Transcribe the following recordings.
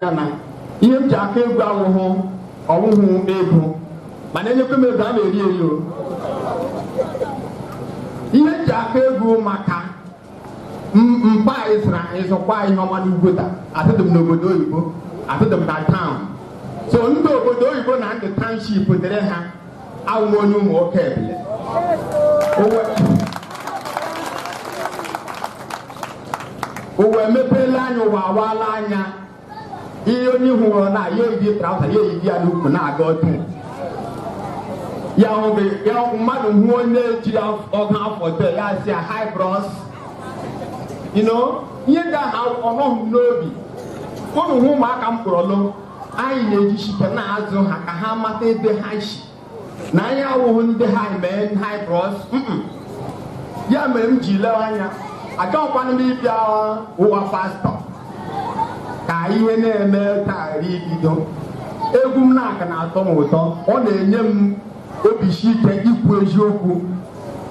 ya na ihe m ji aka egwu awụhụ ọwụhụ ego mana enyekwa m ego a na-eri eri o ihe m ji aka egwu maka m- mkpa ịzụra ịzụkwa ihe ọma n'ugwota azụdị m n'obodo oyibo azụdị m na town so ndị obodo oyibo na ndị township dere ha awụ m onye Ụmụokebele ụwa emepeela anya ụwa awaala anya ihe onye hụrụ na ya eyi traụza ya eyi ya n'ukwu na-aga ọdụ ya oge ya mmadụ hụ onye jiri ọgụ afọ tọ ya sị ya hi bros you know ihe ndị ahụ ọ nọghị m n'obi unu hụ ụmụaka m kpọrọlụ anyị na-ejishi ike na-azụ ha ka ha mata ebe ha si na anyị awụghị ndị ha mee hi bros ya mere m ji lewe anya agaghịkwana m ịbịa ụwa pastọ ka ihe na-eme taa ibido egwu m na-aka na-atọ m ụtọ ọ na-enye m obi si ike ikwu eziokwu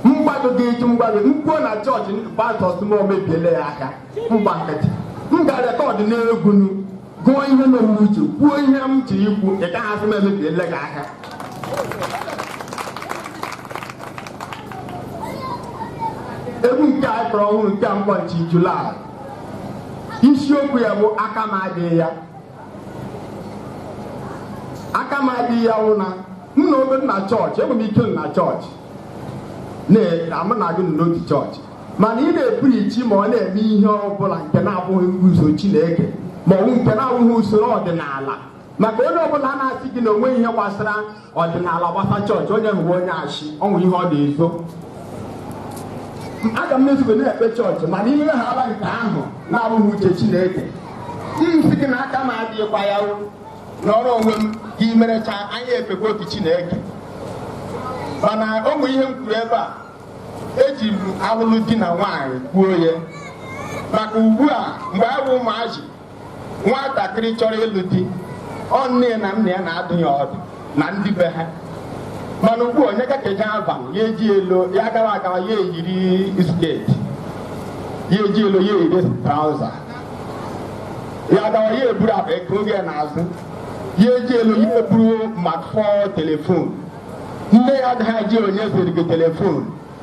mgbado gị eji mgbado m kwuo na chọọchị pastọ asị m emebiele ya ahịa m gba nkịtị m gaa rekọdụ n'egwu gụọ ihe nọ m n'uche kwuo ihe m ji ikwu ị gaghị asị m emebiele gị ahịa egwu nke a kpọrọ ọhụrụ nke mkpọ nchi julaị isiokwu ya bụ aka m adịghị ya aka m adịghị ya wụ na m na obe m na chọọchị enwere m ike m na chọọchị na mụ na gị nọ otu chọọchị mana ị na-epreach ma ọ na-eme ihe ọ bụla nke na-abụghị usoro Chineke ma ọ bụ nke na-abụghị usoro ọdịnala maka onye ọbụla na-asị gị na o nweghị ihe gbasara ọdịnala gbasa chọọchị onye ahụ wụ onye asị o nwere ihe ọ na-ezo aga m ezube na-ekpe chọọchị mana i mewehala nke ahụ na-abụghị uche Chineke m sị gị na aka m adịghịkwa ya nọrọ onwe gị i merecha anyị ekpekwa otu Chineke mana ụmụ ihe m kwuru ebe a eji m alụlụ di na nwaanyị kwuo ya maka ugbu a mgbe anyị bụ ụmụazị nwatakịrị chọrọ ịlụ di ọ nne na nna ya na-adụ ya ọdụ na ndị be ha mana ugbu onye ka ka eje Alvan ya eje lọ ya agawa agawa ya eyiri sketi ya eje lọ ya eyiri trauza ya gawa ya eburu akpa ego gị n'azụ ya eje lọ ya eburu smartphone telefon nne ya agaghị ajụ onye zụrụ gị telefon